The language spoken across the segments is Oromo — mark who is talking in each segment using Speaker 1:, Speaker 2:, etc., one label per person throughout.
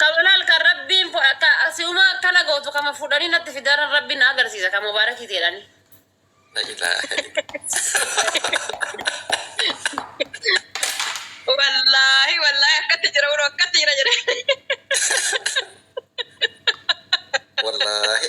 Speaker 1: Kamanal kan rabbiin fu- akka asiuma akkana gootu kama fudhanii natti fidaaran rabbiin na agarsiisa kan mubaarakii teedhani.
Speaker 2: Wallaahi wallaahi akkatti jira uro akkatti jira jedhe.
Speaker 3: Wallaahi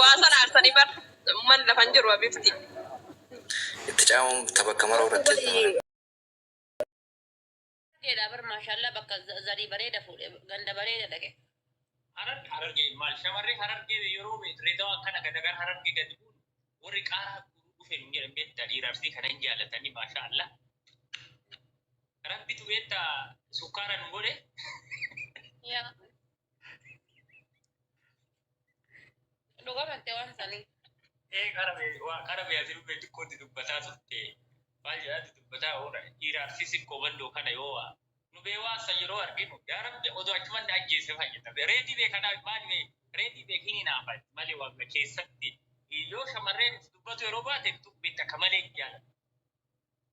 Speaker 2: Waasan aarsanii bar umman lafan jiru abifti.
Speaker 3: Itti caamuun tabakka maroo
Speaker 1: irratti. Harargeedha bar maashaallaa bakka zarii bareeda fuudhe ganda bareeda dhaqe. Harar hararge
Speaker 4: maal shamarree hararge yeroo reedawa akkana gadagar hararge gadi buun warri qaaraa guruu dhufe nu jedhan beektaa dhiira arsii kana hin jaalatanii maashaa Allah. Rabbitu beektaa sukkaara nu godhe.
Speaker 1: Yaa Dhugaa batte waan isaanii. Ee qarabee
Speaker 4: waa qarabee ati dhufee xiqqootti dubbataa turte. Maal jedhaatti dubbataa oola. Dhiira arsiisin koobandoo kana yoo waa. Nu bee waan san yeroo arginu yaa rabbi odoo achuman na ajjeese fayyada. Bee reedii bee kanaa maal bee reedii bee kini naa fayyada. Malee waan bee keessatti yoo shamarreen dubbatu yeroo baate dubbiin takka malee hin jaalatu.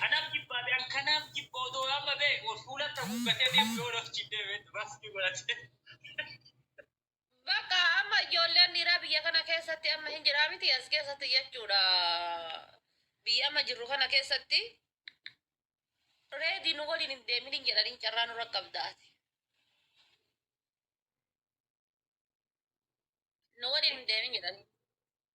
Speaker 4: Kanaaf jibbaa ta'e kanaaf jibba otoo amma ta'e ol fuulatti haguuggatee deemu yoo naf jibbee beektu baasni godhatee.
Speaker 1: Bakka amma ijoolleen dhiiraa biyya kana keessatti amma hin jiraa miti as keessatti jechuudha. Biyya amma jirru kana keessatti reedii nu waliin hin deemin hin jedhaniin carraa nurra qabdaati. Nu waliin hin deemin jedhanii.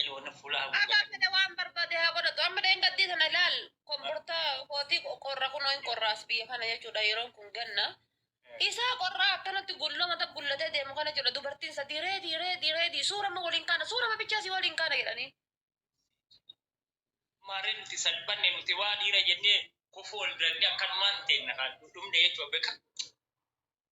Speaker 4: Elo na fula hagu Abbaan gata. fedhe waan barbaade
Speaker 1: haa godhatu. Amma dheengaddi sana ilaal kombortaa kootii qorra kunoo hin qorraas biyya kana jechuudha yeroon kun ganna. Isaa qorraa akkanatti gulloo mata gullatee deemu kana jechuudha dubartiin sadii reedii reedii reedii suurama waliin kaana suurama bichaa si waliin kaana jedhanii.
Speaker 4: Maarree nuti salphanne nuti waa dhiira jennee kufuu ol dirannee akkanumaan teenna kan dhumne jechuudha beeka.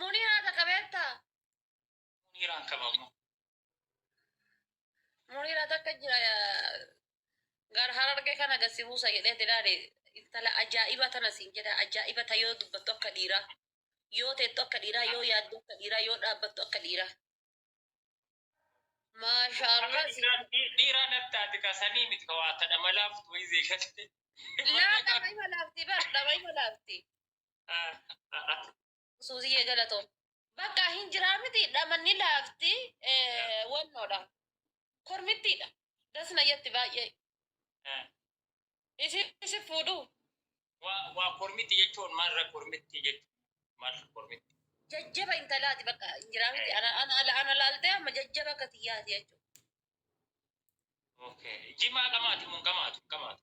Speaker 1: Muniraa takka beektaa? Muniiraan
Speaker 4: qabamu.
Speaker 1: Muniraa takka jira gar harargee kana gasi buusa jedhee diraare intala ajaa'iba tana siin jedha ajaa'iba ta yoo dubbattu akka dhiiraa yoo teettu akka dhiiraa yoo yaaddu akka dhiiraa yoo dhaabbattu akka dhiiraa. Maashaallah si Dhiiraa
Speaker 4: nattaati kasanii miti ka waa tadha malaaf wayii zeegatte. laa dhama
Speaker 1: ima laafti bar dhama ima laafti. Suuziyyee galatoom. Bakka hin jiraa miti dhamanni laafti eh, wannoodha. Kormittiidha. Das na jetti baay'ee. Isin isin fuudhu. Waa
Speaker 4: kormitti jechuun maalirra kormitti jechuun maalirra kormitti. Jajjaba intalaati
Speaker 1: bakka hin jiraa miti. Ana ana ala ana laaltee amma jajjaba akka tiyyaati jechuudha.
Speaker 4: Jimaa qamaati mun qamaatu qamaatu.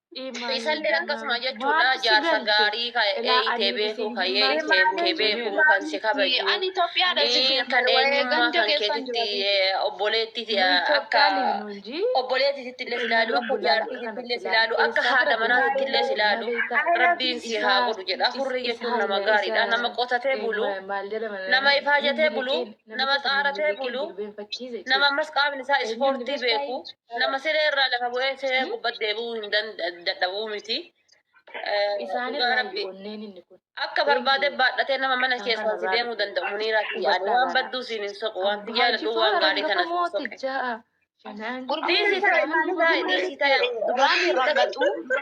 Speaker 1: Isallee akkasuma jechuudha jaarsa gaarii ka eeyitee beekuu ka eeyitee kee beekuu kan si kabaju Ani Itoophiyaadha isin Ee, kan jedhu waa'ee eenyummaa ganda kan keessan keetitti jira. ee, obboleetti ee, akka obboleettititti illee silaalu akka jaartiititti illee silaalu akka haadha manaatitti illee silaalu rabbiin si haa godhu jedha hurrii jechuun nama gaariidha nama qotatee bulu nama ifaajatee bulu nama xaaratee bulu nama ammas qaamni isaa ispoortii beeku Nama siree irraa lafa bu'ee siree gubbatti deebi'uu hin dadhabuu miti. Isaan irraa rabbi onneen inni kun. Akka barbaade baadhatee nama mana keessaa si deemuu danda'u muniiraa fi yaada waan badduu siin hin soqu waan biyyaa ladhuu waan gaarii kana siin soqe. Dhiisii taa'e dhiisii taa'e. Waan hin rakkatu.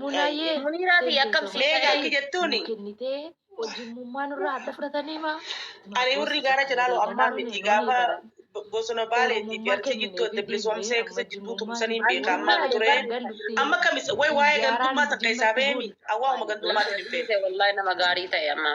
Speaker 1: Munaayee Muniiraa fi akkam si Meeqa ta'e? akki jettuuni? nuu
Speaker 5: kennitee hojimmummaa nurraa adda fudhatanii maa? Ani warri gaara
Speaker 6: jalaaloo ammaa miti gaafa bosona baaleetii fi arsii jidduu adda bilisoomsee akkasa jidduu tumsaniin beeka ammaa ture. Amma kamis way waa'ee gandummaa takka isaa beemi awwaa'uma gandummaatti hin beeku. Wallahi nama gaarii ta'e
Speaker 1: amma.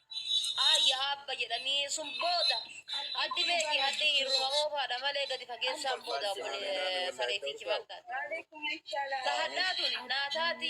Speaker 1: Aayya Aabba jedhanii sun booda addi beeki addi irruma oofaadha malee gadi fageessaan booda bule sareetii kibaadha. Ta hadhaa tuni naa taati.